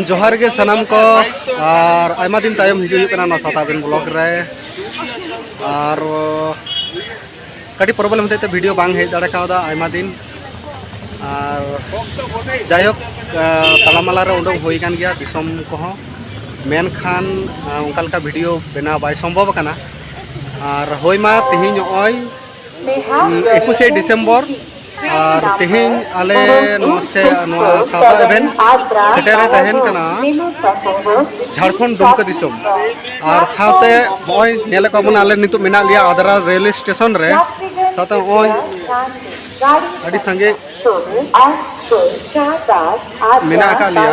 ᱡᱚᱦᱟᱨ ᱜᱮ ᱥᱟᱱᱟᱢ ᱠᱚ ᱟᱨ ᱟᱭᱢᱟ ᱫᱤᱱ ᱛᱟᱭᱚᱢ ᱦᱤᱡᱩᱜ ᱦᱩᱭᱩᱜ ᱠᱟᱱᱟ ᱱᱚᱣᱟ ᱥᱟᱛᱟᱵᱮᱱ ᱵᱞᱚᱜ ᱨᱮ ᱟᱨ ᱠᱟᱹᱴᱤᱡ ᱯᱨᱚᱵᱞᱮᱢ ᱦᱚᱛᱮᱡ ᱛᱮ ᱵᱷᱤᱰᱤᱭᱳ ᱵᱟᱝ ᱦᱮᱡ ᱫᱟᱲᱮ ᱠᱟᱣᱫᱟ ᱟᱭᱢᱟ ᱫᱤᱱ ᱟᱨ ᱡᱟᱭᱦᱳᱠ ᱛᱟᱞᱟᱢᱟᱞᱟ ᱨᱮ ᱩᱰᱩᱠ ᱦᱩᱭ ᱠᱟᱱ ᱜᱮᱭᱟ ᱫᱤᱥᱚᱢ ᱠᱚᱦᱚᱸ ᱢᱮᱱᱠᱷᱟᱱ ᱚᱱᱠᱟ ᱞᱮᱠᱟ ᱵᱷᱤᱰᱤᱭᱳ ᱵᱮᱱᱟᱣ ᱵᱟᱭ ᱥᱚᱢᱵᱷᱚᱵ ᱟᱠᱟᱱᱟ ᱟᱨ ᱦᱳᱭ ᱢᱟ ᱛᱮᱦᱮᱧ ᱱᱚᱜᱼᱚᱭ ᱮᱠᱩᱥᱮ ᱰᱤᱥᱮᱢᱵᱚᱨ ᱟᱨ ᱛᱮᱦᱮᱧ ᱟᱞᱮ ᱱᱚᱣᱟ ᱥᱮ ᱱᱚᱣᱟ ᱥᱟᱶᱛᱟ ᱮᱵᱷᱮᱱ ᱥᱮᱴᱮᱨᱮ ᱛᱟᱦᱮᱱ ᱠᱟᱱᱟ ᱡᱷᱟᱲᱠᱷᱚᱸᱰ ᱫᱩᱢᱠᱟᱹ ᱫᱤᱥᱚᱢ ᱟᱨ ᱥᱟᱶᱛᱮ ᱱᱚᱜᱼᱚᱭ ᱧᱮᱞ ᱠᱚ ᱵᱚᱱ ᱟᱞᱮ ᱱᱤᱛᱚᱜ ᱢᱮᱱᱟᱜ ᱞᱮᱭᱟ ᱟᱫᱨᱟ ᱨᱮᱞ ᱥᱴᱮᱥᱚᱱ ᱨᱮ ᱥᱟᱶᱛᱮ ᱱᱚᱜᱼᱚᱭ ᱟᱹᱰᱤ ᱥᱟᱸᱜᱮ ᱢᱮᱱᱟᱜ ᱟᱠᱟᱫ ᱞᱮᱭᱟ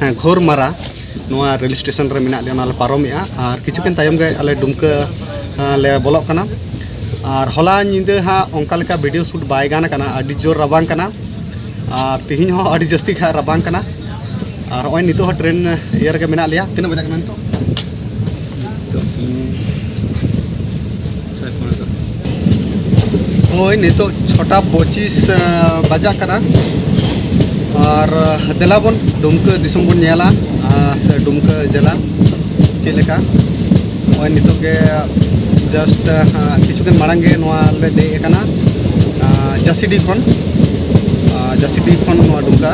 ᱦᱮᱸ ᱜᱷᱳᱨ ᱢᱟᱨᱟ ᱱᱚᱣᱟ ᱨᱮᱞ ᱥᱴᱮᱥᱚᱱ ᱨᱮ ᱢᱮᱱᱟᱜ ᱞᱮᱭᱟ ᱚᱱᱟ ᱞᱮ ᱯᱟᱨᱚᱢᱮᱜᱼᱟ ᱟᱨ ᱠᱤᱪᱷᱩ ᱠᱷᱚᱱ ᱛᱟᱭᱚᱢ ᱜᱮ ᱟᱞᱮ ᱰᱩᱢᱠᱟᱹ ᱞᱮ ᱵᱚᱞᱚᱜ ᱠᱟᱱᱟ ᱟᱨ ᱦᱚᱞᱟ ᱧᱤᱫᱟᱹ ᱦᱟᱸᱜ ᱚᱱᱠᱟ ᱞᱮᱠᱟ ᱵᱷᱤᱰᱤᱭᱳ ᱥᱩᱴ ᱵᱟᱭ ᱜᱟᱱ ᱠᱟᱱᱟ ᱟᱹᱰᱤ ᱡᱳᱨ ᱨᱟᱵᱟᱝ ᱠᱟᱱᱟ ᱟᱨ ᱛᱮᱦᱮᱧ ᱦᱚᱸ ᱟᱹᱰᱤ ᱡᱟᱹᱥᱛᱤ ᱜᱮ ᱨᱟᱵᱟᱝ ᱠᱟᱱᱟ ᱟᱨ ᱱᱚᱜᱼᱚᱭ ᱱᱤᱛᱚᱜ ᱦᱚᱸ ᱴᱨᱮᱱ ᱤᱭᱟᱹ ᱨᱮᱜᱮ ᱢᱮᱱᱟᱜ ᱞᱮᱭᱟ ᱛᱤᱱᱟᱹᱜ ᱵᱟᱡᱟᱜ ᱠᱟᱱᱟ ᱱᱤᱛᱚᱜ ᱱᱚᱜᱼᱚᱭ ᱱᱤᱛᱚᱜ ᱪᱷᱚᱴᱟ ᱯᱚᱸᱪᱤᱥ ᱵᱟᱡᱟᱜ ᱠᱟᱱᱟ ᱟᱨ ᱫᱮᱞᱟ ᱵᱚᱱ ᱰᱩᱢᱠᱟᱹ ᱫᱤᱥᱚᱢ ᱵᱚᱱ ᱧᱮᱞᱟ ᱥᱮ ᱰᱩᱢᱠᱟᱹ ᱡᱮᱞᱟ ᱪᱮᱫ ᱞᱮᱠᱟ ᱱᱚᱜᱼᱚᱭ ᱱᱤᱛᱚᱜ ᱜᱮ ᱡᱟᱥᱴ ᱠᱤᱪᱷᱩ ᱫᱤᱱ ᱢᱟᱲᱟᱝ ᱜᱮ ᱱᱚᱣᱟ ᱞᱮ ᱫᱮᱡ ᱟᱠᱟᱱᱟ ᱡᱟᱹᱥᱤᱰᱤ ᱠᱷᱚᱱ ᱡᱟᱹᱥᱤᱰᱤ ᱠᱷᱚᱱ ᱱᱚᱣᱟ ᱰᱩᱢᱠᱟ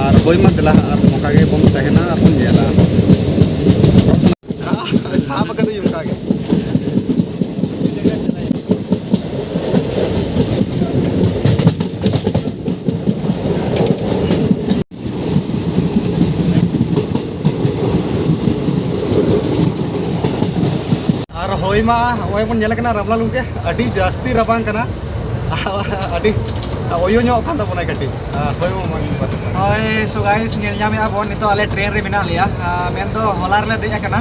ᱟᱨ ᱦᱳᱭ ᱢᱟ ᱫᱮᱞᱟ ᱟᱨ ᱱᱚᱝᱠᱟ ᱜᱮ ᱵᱚᱱ ᱛᱟᱦᱮᱱᱟ ᱟᱨ ᱵᱚᱱ ᱧᱮᱞᱟ ᱦᱳᱭ ᱢᱟ ᱱᱚᱜᱼᱚᱭ ᱵᱚᱱ ᱧᱮᱞᱮᱫ ᱠᱟᱱᱟ ᱨᱟᱵᱟᱝ ᱜᱮ ᱟᱹᱰᱤ ᱡᱟᱹᱥᱛᱤ ᱨᱟᱵᱟᱝ ᱠᱟᱱᱟ ᱟᱹᱰᱤ ᱚᱭᱚ ᱧᱚᱜ ᱠᱟᱱ ᱛᱟᱵᱚᱱᱟ ᱠᱟᱹᱴᱤᱡ ᱦᱳᱭ ᱢᱟ ᱦᱳᱭ ᱥᱚ ᱜᱟᱭᱥ ᱧᱮᱞ ᱧᱟᱢᱮᱜᱼᱟ ᱵᱚᱱ ᱱᱤᱛᱚᱜ ᱟᱞᱮ ᱴᱨᱮᱱ ᱨᱮ ᱢᱮᱱᱟᱜ ᱞᱮᱭᱟ ᱢᱮᱱ ᱫᱚ ᱦᱚᱞᱟ ᱨᱮᱞᱮ ᱫᱮᱡ ᱟᱠᱟᱱᱟ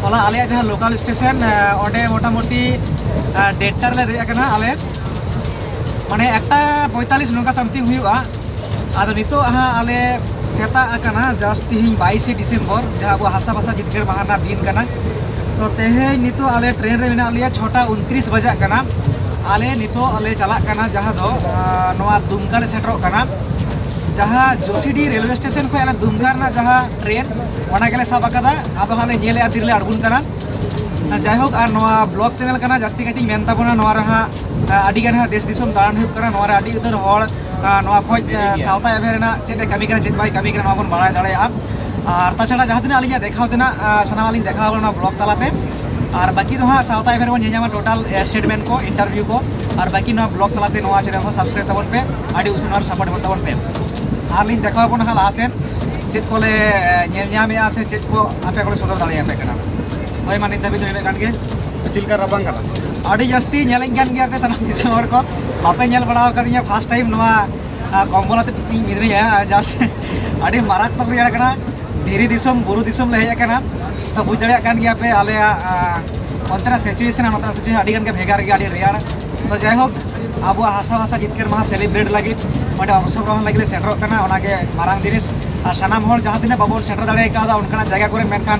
ᱦᱚᱞᱟ ᱟᱞᱮ ᱡᱟᱦᱟᱸ ᱞᱳᱠᱟᱞ ᱥᱴᱮᱥᱚᱱ ᱚᱸᱰᱮ ᱢᱚᱴᱟᱢᱩᱴᱤ ᱰᱮᱴᱴᱟ ᱨᱮᱞᱮ ᱫᱮᱡ ᱟᱠᱟᱱᱟ ᱟᱞᱮ ᱢᱟᱱᱮ ᱮᱠᱴᱟ ᱯᱚᱸᱭᱛᱟᱞᱤᱥ ᱱᱚᱝᱠᱟ ᱥᱟᱢᱛᱷᱤᱝ ᱦᱩᱭᱩᱜᱼᱟ ᱟᱫᱚ ᱱᱤᱛᱚᱜ ᱦᱟᱸᱜ ᱟᱞᱮ ᱥᱮᱛᱟᱜ ᱟᱠᱟᱱᱟ ᱡᱟᱥᱴ ᱛᱤᱦᱤᱧ ᱵᱟᱭᱤᱥᱮ ᱰᱤᱥᱮᱢᱵᱚᱨ ᱡᱟᱦᱟᱸ ᱟᱵᱚ ᱦᱟᱥᱟ ᱵᱷᱟᱥᱟ ᱡᱤᱛᱠᱟᱹᱨ ᱢᱟᱦᱟ ᱨᱮᱱᱟᱜ ᱫᱤᱱ ᱠᱟᱱᱟ ᱛᱚ ᱛᱮᱦᱮᱧ ᱱᱤᱛᱚᱜ ᱟᱞᱮ ᱴᱨᱮᱱ ᱨᱮ ᱢᱮᱱᱟᱜ ᱞᱮᱭᱟ ᱪᱷᱚᱴᱟ ᱩᱱᱛᱨᱤᱥ ᱵᱟᱡᱟᱜ ᱠᱟᱱᱟ ᱟᱞᱮ ᱱᱤᱛᱚᱜ ᱞᱮ ᱪᱟᱞᱟᱜ ᱠᱟᱱᱟ ᱡᱟᱦᱟᱸ ᱫᱚ ᱱᱚᱣᱟ ᱫᱩᱢᱠᱟ ᱞᱮ ᱥᱮᱴᱮᱨᱚᱜ ᱠᱟᱱᱟ ᱡᱟᱦᱟᱸ ᱡᱳᱥᱤᱰᱤ ᱨᱮᱞᱣᱮ ᱥᱴᱮᱥᱚᱱ ᱠᱷᱚᱱ ᱟᱞᱮ ᱫᱩᱢᱠᱟ ᱨᱮᱱᱟᱜ ᱡᱟᱦᱟᱸ ᱴᱨᱮᱱ ᱚᱱᱟ ᱜᱮᱞᱮ ᱥᱟᱵ ᱟᱠᱟᱫᱟ ᱟᱫᱚ ᱦᱟᱸᱜ ᱞᱮ ᱧᱮᱞᱮᱜᱼᱟ ᱛᱤᱨᱮᱞᱮ ᱟᱬᱜᱚᱱ ᱠᱟᱱᱟ ᱡᱟᱭᱦᱳᱠ ᱟᱨ ᱱᱚᱣᱟ ᱵᱞᱚᱜ ᱪᱮᱱᱮᱞ ᱠᱟᱱᱟ ᱡᱟᱹᱥᱛᱤ ᱠᱟᱭᱛᱮᱧ ᱢᱮᱱ ᱛᱟᱵᱚᱱᱟ ᱱᱚᱣᱟ ᱨᱮ ᱦᱟᱸᱜ ᱟᱹᱰᱤ ᱜᱟᱱ ᱦᱟᱸᱜ ᱫᱮᱥ ᱫᱤᱥᱚᱢ ᱫᱟᱬᱟᱱ ᱦᱩᱭᱩᱜ ᱠᱟᱱᱟ ᱱᱚᱣᱟ ᱨᱮ ᱟᱹᱰᱤ ᱩᱛᱟᱹᱨ ᱦᱚᱲ ᱱᱚᱣᱟ ᱠᱷᱚᱡ ᱥᱟᱶᱛᱟ ᱮᱵᱷᱮᱱ ᱨᱮᱱᱟᱜ ᱪᱮᱫ ᱮ ᱠᱟᱹᱢᱤ ᱠᱟᱱᱟ ᱪᱮᱫ ᱵᱟᱭ ᱠᱟᱹᱢᱤ ᱠᱟᱱᱟ ᱱᱚᱣᱟ ᱵᱚᱱ ᱵᱟᱲᱟᱭ ᱫᱟᱲᱮᱭᱟᱜᱼᱟ ᱟᱨ ᱛᱟᱪᱷᱟᱲᱟ ᱡᱟᱦᱟᱸ ᱛᱤᱱᱟᱹᱜ ᱟᱹᱞᱤᱧᱟᱜ ᱫᱮᱠᱷᱟᱣ ᱛᱮᱱᱟᱜ ᱥᱟᱱᱟᱢᱟᱜ ᱞᱤᱧ ᱫᱮᱠᱷᱟᱣ ᱠᱟᱱᱟ ᱵᱞᱚᱜ ᱛᱟᱞᱟᱛᱮ ᱟᱨ ᱵᱟᱹᱠᱤ ᱫᱚ ᱦᱟᱸᱜ ᱥᱟᱶᱛᱟ ᱮᱵᱷᱮᱱ ᱨᱮᱵᱚᱱ ᱧᱮᱧᱟᱢᱟ ᱴᱳᱴᱟᱞ ᱥᱴᱮᱴᱢᱮᱱᱴ ᱠᱚ ᱤᱱᱴᱟᱨᱵᱷᱤᱭᱩ ᱠᱚ ᱟᱨ ᱵᱟᱹᱠᱤ ᱱᱚᱣᱟ ᱵᱞᱚᱜ ᱛᱟᱞᱟᱛᱮ ᱱᱚᱣᱟ ᱪᱮᱱᱮᱞ ᱦᱚᱸ ᱥᱟᱵᱥᱠᱨᱟᱭᱤᱵ ᱛᱟᱵᱚᱱ ᱯᱮ ᱟᱹᱰᱤ ᱩᱥᱟᱹᱨᱟ ᱟᱨ ᱥᱟᱯᱳᱨᱴ ᱮᱢᱚᱜ ᱛᱟᱵᱚᱱ ᱯᱮ ᱟᱨ ᱞᱤᱧ ᱫᱮᱠᱷᱟᱣ ᱵᱚᱱᱟ ᱦᱟᱸᱜ ᱞᱟᱦᱟ ᱥᱮᱱ ᱪᱮᱫ ᱠᱚᱞᱮ ᱧᱮᱞ ᱧᱟᱢᱮᱜᱼᱟ ᱥᱮ ᱪᱮᱫ ᱠᱚ ᱟᱯᱮ ᱠᱚᱞᱮ ᱥᱚᱫᱚᱨ ᱫᱟᱲᱮᱭᱟᱯᱮ ᱠᱟᱱᱟ ᱦᱳᱭ ᱢᱟ ᱱᱤᱛ ᱫᱷᱟᱹᱵᱤᱡ ᱫᱚ ᱤᱱᱟᱹᱜ ᱜᱟᱱ ᱜᱮ ᱪᱮᱫ ᱞᱮᱠᱟ ᱨᱟᱵᱟᱝ ᱠᱟᱱᱟ ᱟᱹᱰᱤ ᱡᱟᱹᱥᱛᱤ ᱧᱮᱞᱮᱧ ᱠᱟᱱ ᱜᱮᱭᱟ ᱯᱮ ᱥᱟᱱᱟᱢ ᱫᱤᱥᱚᱢ ᱦᱚᱲ ᱠᱚ ᱵᱟᱯᱮ ᱧᱮᱞ ᱵᱟᱲᱟ ᱟᱠᱟᱫᱤᱧᱟ ᱯᱷᱟᱥᱴ ᱴᱟᱭᱤᱢ ᱱᱚᱣᱟ ᱠᱚᱢᱵᱚᱞ ᱟᱛᱮ ᱤᱧ ᱢᱤᱱᱟᱹᱧᱟ ᱡᱟᱥᱴ ᱟᱹᱰᱤ ᱢᱟᱨᱟᱠᱛᱢᱚᱠ ᱨᱮᱭᱟᱲ ᱠᱟᱱᱟ ᱫᱷᱤᱨᱤ ᱫᱤᱥᱚᱢ ᱵᱩᱨᱩ ᱫᱤᱥᱚᱢ ᱞᱮ ᱦᱮᱡ ᱟᱠᱟᱱᱟ ᱛᱚ ᱵᱩᱡᱽ ᱫᱟᱲᱮᱭᱟᱜ ᱠᱟᱱ ᱜᱮᱭᱟ ᱯᱮ ᱟᱞᱮᱭᱟᱜ ᱚᱱᱛᱮᱱᱟᱜ ᱥᱤᱪᱩᱭᱮᱥᱚᱱ ᱱᱚᱛᱮᱱᱟᱜ ᱥᱤᱪᱩᱭᱮᱥᱚᱱ ᱟᱹᱰᱤ ᱜᱟᱱ ᱜᱮ ᱵᱷᱮᱜᱟᱨ ᱜᱮᱭᱟ ᱟᱹᱰᱤ ᱨᱮᱭᱟᱲ ᱛᱚ ᱡᱟᱭᱦᱳᱠ ᱟᱵᱚᱣᱟᱜ ᱦᱟᱥᱟ ᱵᱷᱟᱥᱟ ᱡᱤᱛᱠᱟᱹᱨ ᱢᱟᱦᱟ ᱥᱮᱞᱤᱵᱨᱮᱴ ᱞᱟᱹᱜᱤᱫ ᱚᱸᱰᱮ ᱚᱝᱥᱚᱜᱨᱚᱦᱚᱱ ᱞᱟᱹᱜᱤᱫ ᱞᱮ ᱥᱮᱴᱮᱨᱚᱜ ᱠᱟᱱᱟ ᱚᱱᱟᱜᱮ ᱢᱟᱨᱟᱝ ᱡᱤᱱᱤᱥ ᱟᱨ ᱥᱟᱱᱟᱢ ᱦᱚᱲ ᱡᱟᱦᱟᱸ ᱛᱤᱱᱟᱹᱜ ᱵᱟᱵᱚᱱ ᱥᱮᱴᱮᱨ ᱫᱟᱲᱮ ᱠᱟᱣᱫᱟ ᱚᱱᱠᱟᱱᱟᱜ ᱡᱟᱭᱜᱟ ᱠᱚᱨᱮ ᱢᱮᱱᱠᱷᱟᱱ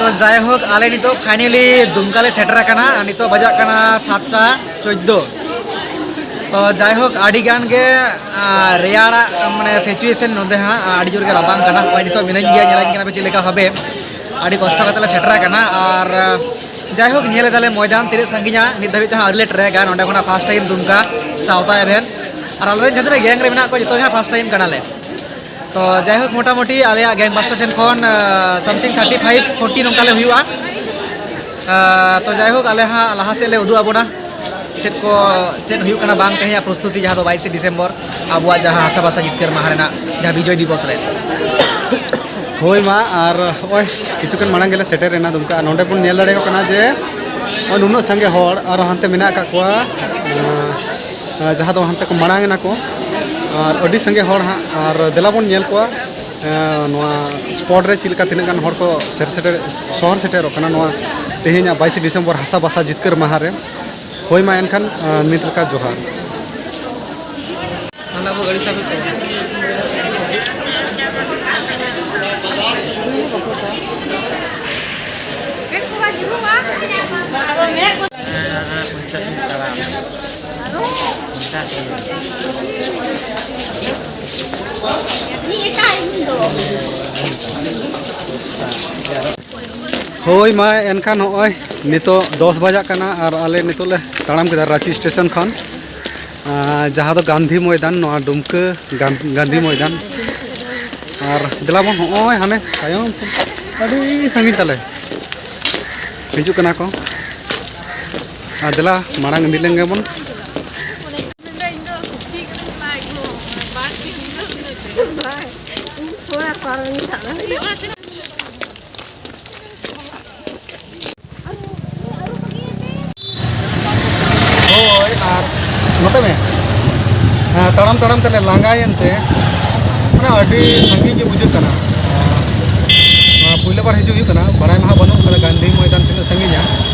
ᱛᱚ ᱡᱟᱭᱦᱳᱠ ᱟᱞᱮ ᱱᱤᱛᱚᱜ ᱯᱷᱟᱭᱱᱮᱞᱤ ᱫᱩᱢᱠᱟ ᱞᱮ ᱥᱮᱴᱮᱨ ᱟᱠᱟᱱᱟ ᱟᱨ ᱱᱤᱛᱚᱜ ᱵᱟᱡᱟᱜ ᱠᱟᱱᱟ ᱥᱟᱛᱴᱟ ᱪᱳᱫᱽᱫᱳ ᱛᱚ ᱡᱟᱭᱦᱳᱠ ᱟᱹᱰᱤ ᱜᱟᱱ ᱜᱮ ᱨᱮᱭᱟᱲᱟᱜ ᱢᱟᱱᱮ ᱥᱤᱪᱩᱭᱮᱥᱚᱱ ᱱᱚᱸᱰᱮ ᱦᱟᱸᱜ ᱟᱹᱰᱤ ᱡᱳᱨ ᱜᱮ ᱨᱟᱵᱟᱝ ᱠᱟᱱᱟ ᱱᱚᱜᱼᱚᱭ ᱱᱤᱛᱚᱜ ᱢᱤᱱᱟᱹᱧ ᱜᱮᱭᱟ ᱧᱮᱞᱟᱹᱧ ᱠᱟᱱᱟ ᱯᱮ ᱪᱮᱫ ᱞᱮᱠᱟ ᱵᱷᱟᱵᱮ ᱟᱹᱰᱤ ᱠᱚᱥᱴᱚ ᱠᱟᱛᱮ ᱞᱮ ᱥᱮᱴᱮᱨ ᱟᱠᱟᱱᱟ ᱟᱨ ᱡᱟᱭᱦᱳᱠ ᱧᱮᱞ ᱮᱫᱟᱞᱮ ᱢᱚᱭᱫᱟᱱ ᱛᱤᱱᱟᱹᱜ ᱥᱟᱺᱜᱤᱧᱟ ᱱᱤᱛ ᱫᱷᱟᱹᱵᱤᱡ ᱛᱮᱦᱚᱸ ᱟᱹᱣᱨᱤ ᱞᱮ ᱴᱨᱮᱠᱟ ᱱᱚᱸᱰᱮ ᱠᱷᱚᱱᱟᱜ ᱯᱷᱟᱥᱴ ᱴᱟᱭᱤᱢ ᱫᱩᱢᱠᱟ ᱥᱟᱶᱛᱟ ᱮᱵᱷᱮᱱ ᱟᱨ ᱟᱞᱮᱨᱮᱱ ᱡᱟᱦᱟᱸ ᱛᱤᱱᱟᱹᱜ ᱜᱮᱝ ᱨᱮ ᱢᱮᱱᱟᱜ ᱠᱚᱣᱟ ᱡᱚᱛᱚ ᱜᱮ ᱦᱟᱸᱜ ᱯᱷᱟᱥᱴ ᱴᱟᱭᱤᱢ ᱠᱟᱱᱟᱞᱮ ᱛᱚ ᱡᱟᱭᱦᱳᱠ ᱢᱚᱴᱟᱢᱩᱴᱤ ᱟᱞᱮᱭᱟᱜ ᱜᱮᱝ ᱵᱟᱥᱴᱟᱨ ᱥᱮᱱ ᱠᱷᱚᱱ ᱥᱟᱢᱛᱷᱤᱝ ᱛᱷᱟᱨᱴᱤ ᱯᱷᱟᱭᱤᱵᱷ ᱯᱷᱳᱨᱴᱤ ᱱᱚᱝᱠᱟ ᱞᱮ ᱦᱩᱭᱩᱜᱼᱟ ᱛᱚ ᱡᱟᱭᱦᱳᱠ ᱟᱞᱮ ᱦᱟᱸᱜ ᱞᱟᱦᱟ ᱥᱮᱫ ᱞᱮ ᱩᱫᱩᱜ ᱟᱵᱚᱱᱟ ᱪᱮᱫ ᱠᱚ ᱪᱮᱫ ᱦᱩᱭᱩᱜ ᱠᱟᱱᱟ ᱵᱟᱝ ᱛᱮᱦᱮᱧᱟᱜ ᱯᱨᱚᱥᱛᱩᱛᱤ ᱡᱟᱦᱟᱸ ᱫᱚ ᱵᱟᱭᱤᱥᱮ ᱰᱤᱥᱮᱢᱵᱚᱨ ᱟᱵᱚᱣᱟᱜ ᱡᱟᱦᱟᱸ ᱦᱟᱥᱟ ᱵᱷᱟᱥᱟ ᱡᱤᱛᱠᱟᱹᱨ ᱢᱟᱦᱟ ᱨᱮᱱᱟᱜ ᱡᱟᱦᱟᱸ ᱵᱤᱡᱚᱭ ᱫᱤᱵᱚᱥ ᱨᱮ ᱦᱳᱭ ᱢᱟ ᱟᱨ ᱱᱚᱜᱼᱚᱭ ᱠᱤᱪᱷᱩ ᱠᱷᱚᱱ ᱢᱟᱲᱟᱝ ᱜᱮᱞᱮ ᱥᱮᱴᱮᱨ ᱮᱱᱟ ᱫᱩᱢᱠᱟ ᱱᱚᱰᱮ ᱵᱚᱱ ᱧᱮᱞ ᱫᱟᱲᱮᱭᱟᱠᱚ ᱠᱟᱱᱟ ᱡᱮ ᱱᱩᱱᱟᱹᱜ ᱥᱟᱸᱜᱮ ᱦᱚᱲ ᱟᱨ ᱦᱟᱱᱛᱮ ᱢᱮᱱᱟᱜ ᱟᱠᱟᱫ ᱠᱚᱣᱟ ᱡᱟᱦᱟᱸ ᱫᱚ ᱦᱟᱱᱛᱮ ᱠᱚ ᱢᱟᱲᱟᱝ ᱮᱱᱟ ᱠᱚ ᱟᱨ ᱟᱹᱰᱤ ᱥᱟᱸᱜᱮ ᱦᱚᱲ ᱦᱟᱸᱜ ᱟᱨ ᱫᱮᱞᱟ ᱵᱚᱱ ᱧᱮᱞ ᱠᱚᱣᱟ ᱱᱚᱣᱟ ᱥᱯᱚᱴ ᱨᱮ ᱪᱮᱫ ᱞᱮᱠᱟ ᱛᱤᱱᱟᱹᱜ ᱜᱟᱱ ᱦᱚᱲ ᱠᱚ ᱥᱮᱨ ᱥᱮᱴᱮᱨ ᱥᱚᱦᱚᱨ ᱥᱮᱴᱮᱨᱚᱜ ᱠᱟᱱᱟ ᱱᱚᱣᱟ ᱛᱮᱦᱮᱧᱟᱜ ᱵᱟᱭᱤᱥᱮ ᱰᱤᱥᱮᱢᱵᱚᱨ ᱦᱟᱥᱟ ᱵᱷᱟᱥᱟ ᱡᱤᱛᱠᱟᱹᱨ ᱢᱟᱦᱟ ᱨᱮ ᱦᱳᱭ ᱢᱟ ᱮᱱᱠᱷᱟᱱ ᱱᱤᱛ ᱞᱮᱠᱟ ᱡᱚᱦᱟᱨ ᱚᱱᱟ ᱠᱚ ᱜᱟᱹᱲᱤ ᱥᱟᱵ ᱦᱳᱭ ᱢᱟ ᱮᱱᱠᱷᱟᱱ ᱱᱚᱜᱼᱚᱭ ᱱᱤᱛᱚᱜ ᱫᱚᱥ ᱵᱟᱡᱟᱜ ᱠᱟᱱᱟ ᱟᱨ ᱟᱞᱮ ᱱᱤᱛᱚᱜ ᱞᱮ ᱛᱟᱲᱟᱢ ᱠᱮᱫᱟ ᱨᱟᱺᱪᱤ ᱥᱴᱮᱥᱚᱱ ᱠᱷᱚᱱ ᱡᱟᱦᱟᱸ ᱫᱚ ᱜᱟᱱᱫᱷᱤ ᱢᱚᱭᱫᱟᱱ ᱱᱚᱣᱟ ᱰᱩᱢᱠᱟᱹ ᱜᱟᱱᱫᱷᱤ ᱢᱚᱭᱫᱟᱱ ᱟᱨ ᱫᱮᱞᱟ ᱵᱚᱱ ᱱᱚᱜᱼᱚᱭ ᱦᱟᱱᱮ ᱛᱟᱭᱚᱢ ᱟᱹᱰᱤ ᱥᱟᱺᱜᱤᱧ ᱛᱟᱞᱮ ᱦᱤᱡᱩᱜ ᱠᱟᱱᱟ ᱠᱚ ᱟᱫᱮᱞᱟ ᱢᱟᱲᱟᱝ ᱤᱫᱤ ᱞᱮᱱ ᱜᱮᱵᱚᱱ ᱦᱳᱭ ᱟᱨ ᱱᱚᱛᱮ ᱢᱮ ᱛᱟᱲᱟᱢ ᱛᱟᱲᱟᱢ ᱛᱮᱞᱮ ᱞᱟᱸᱜᱟᱭᱮᱱ ᱛᱮ ᱢᱟᱱᱮ ᱟᱹᱰᱤ ᱥᱟᱺᱜᱤᱧ ᱜᱮ ᱵᱩᱡᱷᱟᱹᱜ ᱠᱟᱱᱟ ᱯᱳᱭᱞᱳ ᱵᱟᱨ ᱦᱤᱡᱩᱜ ᱦᱩᱭᱩᱜ ᱠᱟᱱᱟ ᱵᱟᱲᱟᱭ ᱢᱟ ᱵᱟᱹᱱᱩᱜ ᱠᱟᱫᱟ ᱜᱟᱱᱫᱷᱤ ᱢᱚᱭᱫᱟᱱ ᱛᱤᱱᱟᱹᱜ ᱥᱟᱺᱜᱤᱧᱟ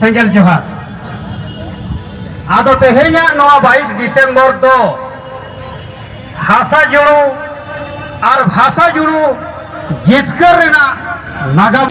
ᱥᱮᱸᱜᱮᱞ ᱡᱚᱦᱟᱨ ᱟᱫᱚ ᱛᱮᱦᱮᱧᱟᱜ ᱱᱚᱣᱟ ᱵᱟᱭᱤᱥ ᱰᱤᱥᱮᱢᱵᱚᱨ ᱫᱚ ᱦᱟᱥᱟ ᱡᱩᱲᱩ ᱟᱨ ᱵᱷᱟᱥᱟ ᱡᱩᱲᱩ ᱡᱤᱛᱠᱟᱹᱨ ᱨᱮᱱᱟᱜ ᱱᱟᱜᱟᱢ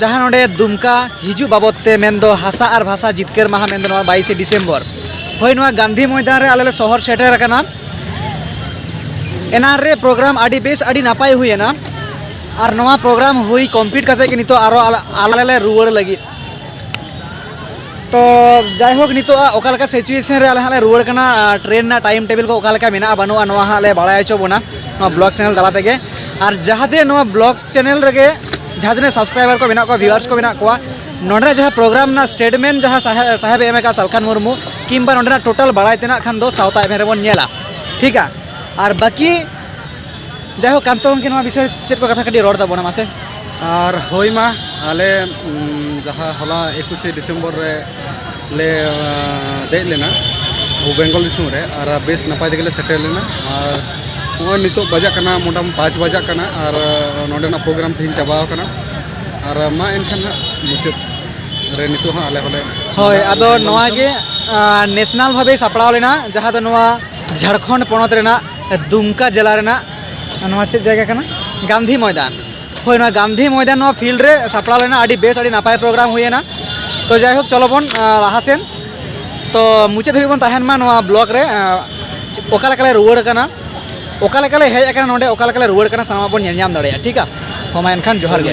ᱡᱟᱦᱟᱸ ᱱᱚᱰᱮ ᱫᱩᱢᱠᱟ ᱦᱤᱡᱩᱜ ᱵᱟᱵᱚᱫ ᱛᱮ ᱢᱮᱱ ᱫᱚ ᱦᱟᱥᱟ ᱟᱨ ᱵᱷᱟᱥᱟ ᱡᱤᱛᱠᱟᱹᱨ ᱢᱟᱦᱟ ᱢᱮᱱ ᱫᱚ ᱱᱚᱣᱟ ᱵᱟᱭᱤᱥᱮ ᱰᱤᱥᱮᱢᱵᱚᱨ ᱦᱳᱭ ᱱᱚᱣᱟ ᱜᱟᱱᱫᱷᱤ ᱢᱚᱭᱫᱟᱱ ᱨᱮ ᱟᱞᱮ ᱞᱮ ᱥᱚᱦᱚᱨ ᱥᱮᱴᱮᱨ ᱟᱠᱟᱱᱟ ᱮᱱᱟᱱ ᱨᱮ ᱯᱨᱳᱜᱨᱟᱢ ᱟᱹᱰᱤ ᱵᱮᱥ ᱟᱹᱰᱤ ᱱᱟᱯᱟᱭ ᱦᱩᱭᱮᱱᱟ ᱟᱨ ᱱᱚᱣᱟ ᱯᱨᱳᱜᱨᱟᱢ ᱦᱩᱭ ᱠᱚᱢᱯᱞᱤᱴ ᱠᱟᱛᱮ ᱜᱮ ᱱᱤᱛᱚᱜ ᱟᱨᱚ ᱟᱞᱮ ᱞᱮ ᱨᱩᱣᱟᱹᱲ ᱞᱟᱹᱜᱤᱫ ᱛᱚ ᱡᱟᱭᱦᱳᱠ ᱱᱤᱛᱚᱜ ᱚᱠᱟ ᱞᱮᱠᱟ ᱥᱤᱪᱩᱭᱮᱥᱚᱱ ᱨᱮ ᱟᱞᱮ ᱦᱟᱸᱜ ᱞᱮ ᱨᱩᱣᱟᱹᱲ ᱠᱟᱱᱟ ᱴᱨᱮᱱ ᱨᱮᱱᱟᱜ ᱴᱟᱭᱤᱢ ᱴᱮᱵᱤᱞ ᱠᱚ ᱚᱠᱟ ᱞᱮᱠᱟ ᱢᱮᱱᱟᱜᱼᱟ ᱵᱟᱹᱱᱩᱜᱼᱟ ᱱᱚᱣᱟ ᱦᱟᱸᱜ ᱞᱮ ᱵᱟᱲᱟᱭ ᱦᱚᱪᱚ ᱵᱚᱱᱟ ᱱᱚᱣᱟ ᱵᱞᱚᱜᱽ ᱪᱮᱱᱮᱞ ᱛᱟᱞᱟ ᱛᱮᱜᱮ ᱟᱨ ᱡᱟᱦᱟᱸ ᱛᱤᱱᱟᱹᱜ ᱱᱚᱣᱟ ᱵᱞᱚᱜᱽ ᱪᱮᱱᱮᱞ ᱨᱮᱜᱮ ᱡᱟᱦᱟᱸ ᱛᱤᱱᱟᱹᱜ ᱥᱟᱵᱥᱠᱨᱟᱭᱵᱟᱨ ᱠᱚ ᱢᱮᱱᱟᱜ ᱠᱚᱣᱟ ᱵᱷᱤᱣᱟᱨᱥ ᱠᱚ ᱢᱮᱱᱟᱜ ᱠᱚᱣᱟ ᱱᱚᱰᱮ ᱡᱟᱦᱟᱸ ᱯᱨᱳᱜᱨᱟᱢ ᱨᱮᱱᱟᱜ ᱥᱴᱮᱴᱢᱮᱱᱴ ᱡᱟᱦᱟᱸ ᱥᱟᱦᱮᱵ ᱮᱢ ᱟᱠᱟᱫ ᱥᱟᱞᱠᱷᱟᱱ ᱢᱩᱨᱢᱩ ᱠᱤᱢᱵᱟ ᱱᱚᱰᱮᱱᱟᱜ ᱴᱳᱴᱟᱞ ᱵᱟᱲᱟᱭ ᱛᱮᱱᱟᱜ ᱠᱷᱟᱱ ᱫᱚ ᱥᱟᱶᱛᱟ ᱮᱵᱷᱮᱱ ᱨᱮᱵᱚᱱ ᱧᱮᱞᱟ ᱴᱷᱤᱠ ᱟ ᱟᱨ ᱵᱟᱹᱠᱤ ᱡᱟᱭᱦᱳᱠ ᱠᱟᱱᱛᱚ ᱜᱚᱢᱠᱮ ᱱᱚᱣᱟ ᱵᱤᱥᱚᱭ ᱪᱮᱫ ᱠᱚ ᱠᱟᱛᱷᱟ ᱠᱟᱹᱴᱤᱡ ᱨᱚᱲ ᱛᱟᱵᱚᱱᱟ ᱢᱟᱥᱮ ᱟᱨ ᱦᱳᱭ ᱢᱟ ᱟᱞᱮ ᱡᱟᱦᱟᱸ ᱦᱚᱞᱟ ᱮᱠᱩᱥᱮ ᱰᱤᱥᱮᱢᱵᱚᱨ ᱨᱮ ᱞᱮ ᱫᱮᱡ ᱞᱮᱱᱟ ᱵᱮᱝᱜᱚᱞ ᱫᱤᱥᱚᱢ ᱨᱮ ᱟᱨ ᱵᱮᱥ ᱱᱟᱯᱟᱭ ᱛᱮᱜᱮ ᱞᱮ ᱥᱮᱴᱮᱨ ᱞᱮᱱᱟ ᱟᱨ ᱱᱚᱜᱼᱚᱭ ᱱᱤᱛᱚᱜ ᱵᱟᱡᱟᱜ ᱠᱟᱱᱟ ᱢᱚᱴᱟᱢᱩᱴᱤ ᱯᱟᱸᱪ ᱵᱟᱡᱟᱜ ᱠᱟᱱᱟ ᱟᱨ ᱱᱚᱰᱮᱱᱟᱜ ᱯᱨᱳᱜᱨᱟᱢ ᱛᱮᱦᱮᱧ ᱪᱟᱵᱟ ᱟᱠᱟᱱᱟ ᱟᱨ ᱢᱟ ᱮᱱᱠᱷᱟᱱ ᱦᱟᱸᱜ ᱢᱩᱪᱟᱹᱫ ᱨᱮ ᱱᱤᱛᱚᱜ ᱦᱚᱸ ᱟᱞᱮ ᱦᱚᱸᱞᱮ ᱦᱳᱭ ᱟᱫᱚ ᱱᱚᱣᱟ ᱜᱮ ᱱᱮᱥᱱᱟᱞ ᱵᱷᱟᱵᱮ ᱥᱟᱯᱲᱟᱣ ᱞᱮᱱᱟ ᱡᱟᱦᱟᱸ ᱫᱚ ᱱᱚᱣᱟ ᱡᱷᱟᱲᱠᱷᱚᱸᱰ ᱯᱚᱱᱚᱛ ᱨᱮᱱᱟᱜ ᱫᱩᱢᱠᱟ ᱡᱮᱞᱟ ᱨᱮᱱᱟᱜ ᱱᱚᱣᱟ ᱪᱮᱫ ᱡᱟᱭᱜᱟ ᱠᱟᱱᱟ ᱜᱟᱱᱫᱷᱤ ᱢᱚᱭᱫᱟᱱ ᱦᱳᱭ ᱱᱚᱣᱟ ᱜᱟᱱᱫᱷᱤ ᱢᱚᱭᱫᱟᱱ ᱱᱚᱣᱟ ᱯᱷᱤᱞᱰ ᱨᱮ ᱥᱟᱯᱲᱟᱣ ᱞᱮᱱᱟ ᱟᱹᱰᱤ ᱵᱮᱥ ᱟᱹᱰᱤ ᱱᱟᱯᱟᱭ ᱯᱨᱳᱜᱨᱟᱢ ᱦᱩᱭᱮᱱᱟ ᱛᱚ ᱡᱟᱭᱦᱳᱠ ᱪᱚᱞᱚ ᱵᱚᱱ ᱞᱟᱦᱟ ᱥᱮᱱ ᱛᱚ ᱢᱩᱪᱟᱹᱫ ᱫᱷᱟᱹᱵᱤᱡ ᱵᱚᱱ ᱛᱟᱦᱮᱱ ᱢᱟ ᱱᱚᱣᱟ ᱵᱞᱚᱜᱽ ᱨᱮ ᱚᱠᱟ ᱞᱮᱠᱟᱞᱮ ᱨᱩᱣᱟᱹᱲ ᱠᱟᱱᱟ ᱚᱠᱟ ᱞᱮᱠᱟᱞᱮ ᱦᱮᱡ ᱟᱠᱟᱱᱟ ᱱᱚᱰᱮ ᱚᱠᱟ ᱞᱮᱠᱟᱞᱮ ᱨᱩᱣᱟᱹᱲ ᱠᱟᱱᱟ ᱥᱟᱱᱟᱢᱟᱜ ᱵᱚᱱ ᱧᱮᱞ ᱧᱟᱢ ᱫᱟᱲᱮᱭᱟᱜᱼᱟ ᱴᱷᱤᱠᱟ ᱦᱳᱭ ᱢᱟ ᱮᱱᱠᱷᱟᱱ ᱡᱚᱦᱟᱨ ᱜᱮ